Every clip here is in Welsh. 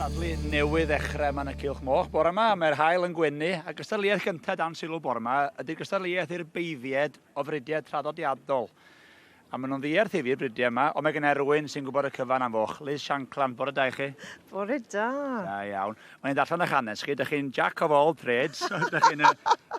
cystadlu newydd ddechrau yma yn y Cylch Moch bore yma. Mae'r hael yn gwenu a gystadleuaeth gyntaf dan sylw bore yma ydy'r gystadleuaeth i'r beiddied o fridiau traddodiadol. A maen nhw'n ddiarth i fi'r bridiau yma, ond mae gen i rwy'n sy'n gwybod y cyfan am foch. Liz Shankland, bore da i chi. Bore da. Da iawn. O'n i'n darllen 'ych hanes chi, dych chi'n Jack of all trades, dych chi'n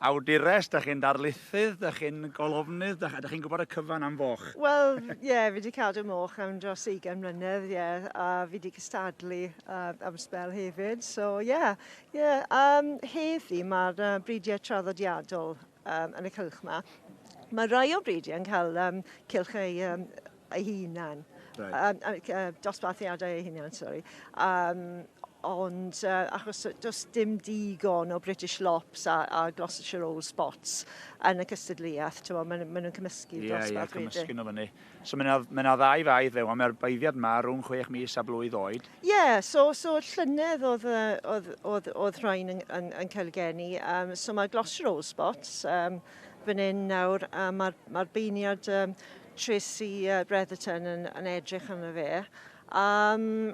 awdures, dych chi'n darlithydd, dych chi'n golofnydd, dych, dych chi'n gwybod y cyfan am foch. Wel, ie, yeah, fi wedi cadw moch am dros 20 mlynedd, ie, yeah, a fi wedi cystadlu uh, am spel hefyd, so ie, yeah, ie. Yeah. Um, heddi mae'r uh, bridiau traddodiadol um, yn y cylch yma. Mae rhai o bryd yn cael um, cylch ei, um, ei hunan, right. um, uh, dosbarthiadau ei hunan, sorry. Um, ond uh, achos does dim digon o British Lops a, a Gloucestershire Old Spots yn y cystadleuaeth, ti'n meddwl, maen nhw cymysgu yeah, dosbarth yeah, wedyn. Ie, ie, cymysgu nhw fyny. So mae yna, mae yna ddau faith fe, ond mae'r baeddiad yma rhwng chwech mis a blwydd oed. Ie, yeah, so, so llynedd oedd, oedd, oedd, oedd rhain yn, yn, yn cael geni. Um, so mae Gloucester Old Spots um, fan hyn nawr, a mae'r mae beiniad um, Tracy uh, Bretherton yn, yn edrych arno fe. Um,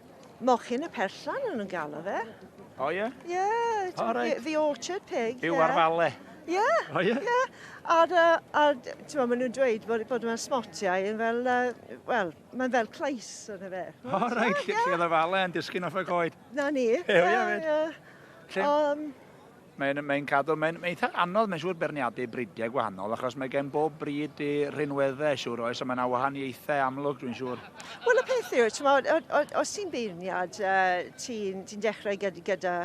Mochyn y Perllan o'n nhw'n galw fe. O oh, ie? Yeah? Ie, yeah, oh, right. the, the orchard pig. Byw yeah. ar fale. Ie. Yeah. O oh, ie? Yeah? Ie. Yeah. A, a, a ti'n maen nhw'n dweud bod, bod yma smotiau yn fel, uh, wel, mae'n fel clais yn y fe. O, oh, rhaid, lle, lle oedd y fale yn disgyn off y goed. Na ni. Ie, ie, ie. Um, Mae'n mae cadw, mae'n mae eitha anodd, mae'n siŵr berniadu bridiau gwahanol, achos mae gen bob brid i rinweddau, siŵr oes, a mae yna wahaniaethau amlwg, dwi'n siŵr. Wel, y peth yw, os ti'n beirniad, uh, ti'n ti dechrau gyda, gyda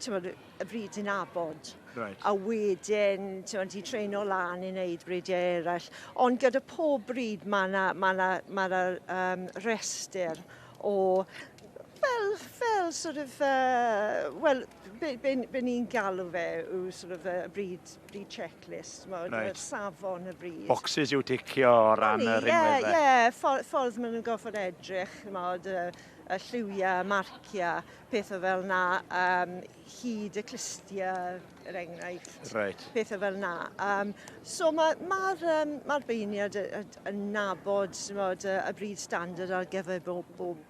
bod, y brid ti'n abod. Right. A wedyn, ti'n ti treino lan i wneud bridiau eraill. Ond gyda pob brid, mae yna ma na, ma na, um, restr o fel, fel sort of, uh, well, Be, be, be ni'n galw fe yw sort of y bryd, bryd checklist, right. yr safon y bryd. Boxes yw ticio o ran y rhinwedd yeah, fe? Ie, yeah, ffordd, ffordd maen nhw'n gorfod edrych, mod, y, y lliwiau, marciau, pethau fel na, um, hyd y clistiau, er enghraifft. Right. Pethau fel na. Um, so mae'r ma, ma, um, ma beirniad yn nabod mod, y, y bryd standard ar gyfer bob, bob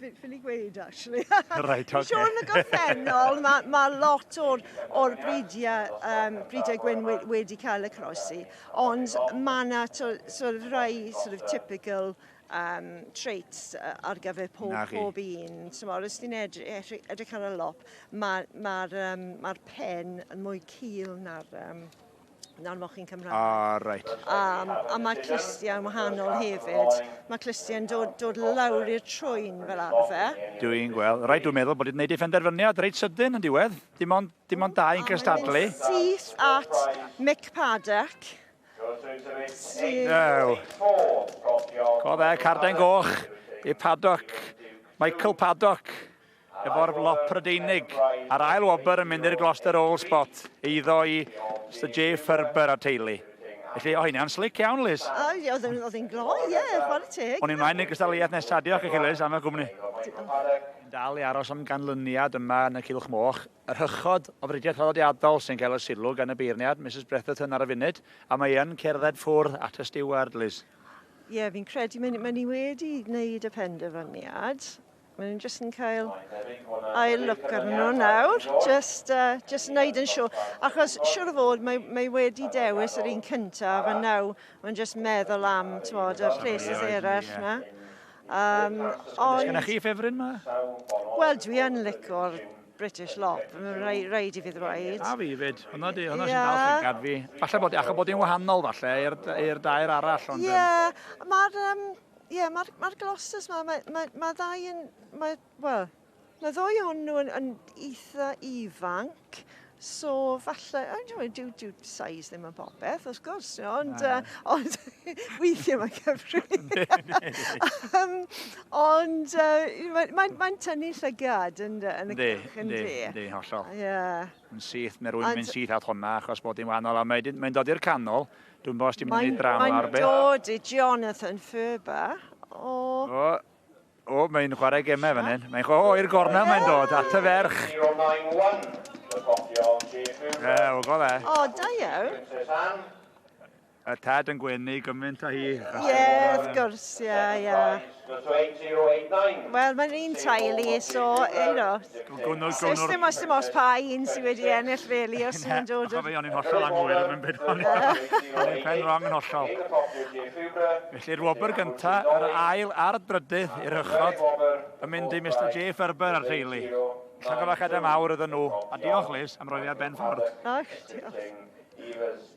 ffili gweud, actually. right, okay. Siôn yn y gorffennol, mae ma lot o'r, or bridiau, um, bridiau gwyn we, wedi cael y croesi, ond mae yna sort of rai sort of typical um, traits uh, ar gyfer pob, pob un. So, mor, os ti'n edrych, edrych ar y lop, mae'r ma, ma, um, ma pen yn mwy cil na'r... Um, Na'r mochyn Cymraeg. Ah, right. Um, a mae'r clustiau'n wahanol hefyd. Mae clustiau'n dod, dod lawr i'r trwyn fel arfer. Dw i'n gweld. Rhaid dwi'n meddwl bod i'n gwneud ei phenderfyniad reit sydyn yn diwedd. Dim ond, dim ond dau yn cystadlu. Syth at Mick Paddock. Sydd... Go fe, carden goch i Paddock. Michael Paddock. efo'r lop Prydeinig, a'r ail wobr yn mynd i'r Gloucester Old Spot, eiddo i Sir J. Ferber a teulu. Felly, o hynna'n slic iawn, Liz. O, ie, oedd yn- oedd yn gloi, ie, chwarae teg. O'n i'n mlaen i'r cystadleuaeth nesa. Diolch i chi, Liz, am eich gwmni. Diolch. Yn dal i aros am ganlyniad yma yn y Cylch Moch. Yr hychod o fridiau traddodiadol sy'n cael y sylw gan y beirniad, Misus Bretherton ar y funud, a mae yn cerdded ffwrdd at y stiward, Liz. Ie, fi'n credu mae ni, mae ni wedi wneud y penderfyniad. Maen nhw'n jyst yn cael ail look arnyn nhw nawr, jyst, uh, jyst yn neud yn siŵr. Achos siŵr o fod, mae, mae wedi dewis yr un cyntaf, a naw, mae'n jyst meddwl am, ti'n bod, y places eraill na. Um, ond... Gyda chi ffefryn ma? Wel, dwi yn licor British lop, mae'n rhaid i fi ddweud. A fi fyd, hwnna di, hwnna sy'n dal llygad fi. Falle bod, achos bod hi'n wahanol falle i'r dair arall, ond... Ie, yeah, mae'r... Um, Ie, mae'r ma glossus ma, mae, mae, mae ddau yn, mae, wel, mae ddwy o'n nhw yn, yn eitha ifanc, so falle, oh, no, dyw, dyw size ddim yn popeth, wrth gwrs, no, ond, uh, ond weithiau mae'n cyfri. um, ond uh, mae'n mae, mae tynnu llygad yn, yn y cylch, yn di. Yndi, hollol. Yeah. Yn syth, mae rwy'n mynd syth at honna, achos bod hi'n wahanol, a mae'n mae dod i'r canol, Dwi'n bos ti'n mynd i wneud drama ar beth. Mae'n dod i Jonathan Ferber. O. O, o mae'n chwarae gemau fan hyn. Mae'n chwarae, o, i'r gorna mae'n dod, at y ferch. E, o, go fe. O, da iawn. Y tad yn gwenu gymaint o hi. Ie, wrth gwrs, ie, ie. Does to 8089. Wel, mae'n un teulu, so, you know. Does dim os dim os pa un sydd wedi ennill, really, os mae'n dod... Chofio, o'n i'n hollol anghywir yn mynd byd o'n i'n pen wrong yn hollol. Felly'r wobr gynta, yr ail a'r drydydd i'r uchod, yn mynd i Mr J Ferber a'r teulu. Llongyfarchiadau mawr iddyn nhw, a diolch, Liz, am roi fi ar ben ffordd. Ych, diolch.